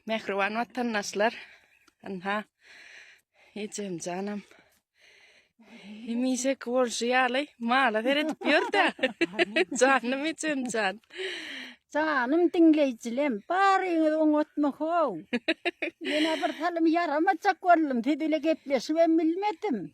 Mehriban vatandaşlar. Anha. Ecem canım. Hemişe bolşy ýaly mala seredip ýör da. Canım ecem can. Canım diňleýjilem, baryňyz oňatma how. Mena bir salym ýaramajak boldum, siz ile gepleşibem bilmedim.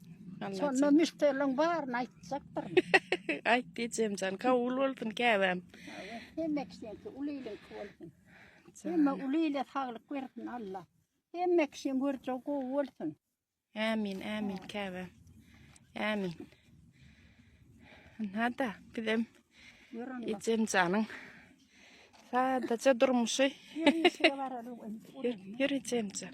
Şonda müşderleriň baryny aýtjakdyr. Aýt ejemjan, kabul bolsun käbäm. Hemme kişiňki, uly iliňki bolsun. Hemme uly ile saglyk bersin Alla. Hemme kişiň görjegi gowy bolsun. Ämin, ämin käbäm. Ämin. Nada, bizem ejemjanyň sadaja durmuşy. Ýör ejemjan.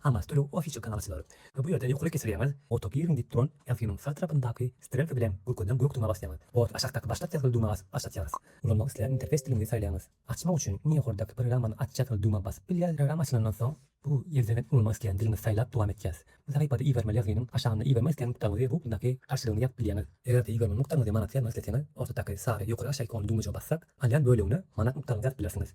Hamas töleg ofisi kanalçylary we bu ýerde ýokarlyk geçirýäňiz, ota giriň diýip duran ýazgynyň sag tarapyndaky strelka bilen görkezilen gök duma basýaňyz. Bot aşakdaky başlat ýazgyly duma başlatýaňyz. Ulanmak islän interfeýs diliňizi saýlaýaňyz. Açmak üçin iň ýokardaky programmany aç ýazgyly duma basyp bilýäs. Programma açylandan soň, bu ýerden hem ulanmak islän diliňizi saýlap dowam etýäs. Bu sahypada ibermeli ýazgynyň aşagynda ibermek islän nukdaňyzy we ugrundaky garşylygyny ýazyp bilýäňiz. Eger-de ibermeli nukdaňyzy manatda ýazmak isleseňiz, ortadyky sary ýokary-aşaýyk on dumajyga bassak, alýan bölegine manat nukdaňyzy ýazyp bilersiňiz.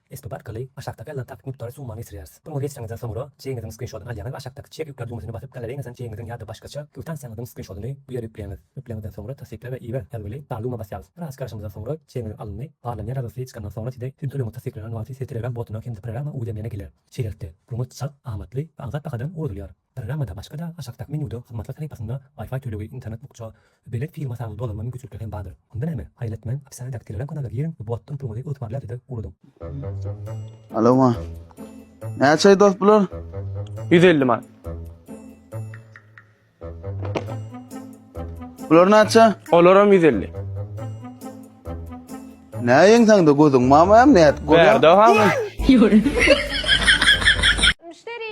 Esbap arkaly aşakdaky ýazylan takyk mukdary summany geçirýäris. Puluňyzy geçireňizden soňra, çegiňiziň skrinşotyny alýaňyz we aşakdaky Çek ýükle düwmesine basyp, galareýiňizden çegiňiziň ýa-da başgaça kwittansiýaňyzyň skrinşotyny bu ýere ýükleýäňiz. Ýükleňizden soňra Tassykla we iber ýazgyly Darluma basýaňyz. Biraz garaşyňyzdan soňra, çegiňiz alyndy. Barlanýan ýazgysy çykandan soňra size siziň tölegiňiz tassyklanan wagty size Telegram botuna hem-de programma uwzlemlene geler. Şeýlelikde, puluňyz çalt, amatly we aňsat bahadan ugradylýar. Programmada başga-da aşakdaky menýuda hyzmatlar sahypasynda Wi-Fi tölegi, internet bukja, belet firma sany dolanma mümkinçilikleri hem bardyr. Onda näme? Haýal etmäň, opisýadaky Telegram kanala giriň we bu atdan puluňyzy ygtybarly adrese ugradyň. Alowa. Näçeý dost bular? Ýüz elli manat. Bular näçe? Olaram ýüz elli. Näýeň sende gözüň mamam nädip görýär? Bärde ha. Müşteri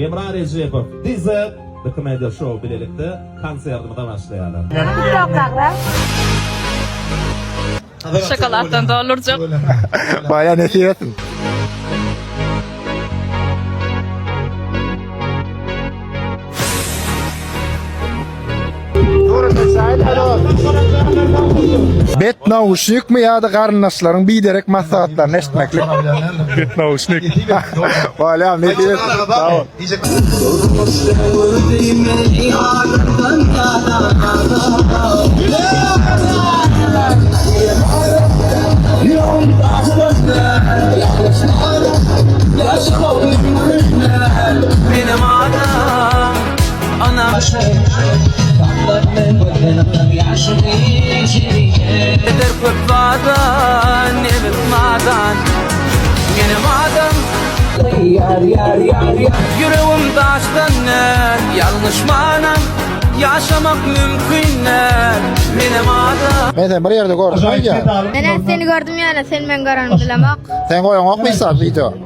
Emra Rejepow, DZ, The Comedy Show bilelikde konsertimize başlaýarlar. Şokoladdan doldurjak. Baýa nesip etsin. Bet nauşnik mi ýa-da garyndaşlaryň biderek maslahatlaryny eşitmeklik? Bet nauşnik. Wala, ne diýip? Sag ol. Benim adım Men seni bir ýerde gördüm, aýdýa. Neneň seni gördüm ýa-da sen meni görenimi bilemok. Sen goýaňokmy hiç zat wideo?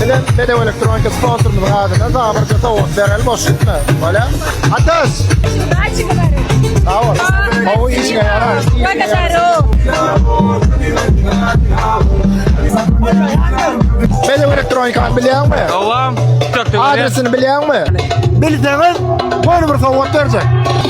Bilen Bedew Elektronika sponsorymyzyň adyna zabyrca sowgat bereli boş gitme. Bolýa? Atas! Sağ ol. Hawa işine yarar. Bedew Elektronika bilýän mi? Dowam. Adresini bilýän mi? Bilseňiz, boýny bir sowgat berjek.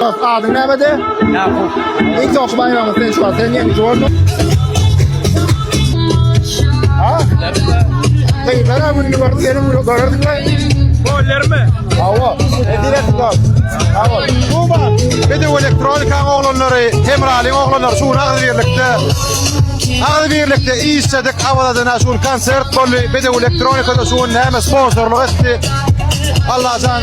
Dost adyň näbede? Ýakup. Iň soňky baýragyň sen şu an sen ýeňiji boldun. Ha? Gyzlar ha gününi görüp seni bunu görerdik lan. Gollermi? Hawa. Direkt gol. Hawa. Bu bak. Bedew elektronikanyň oglanlary, Temralyň oglanlary şu nagzy birlikde Nagzy birlikde işledik Awaladana şu konsert boldy. Bedew elektronikada şu näme sponsorlyk etdi. Allajan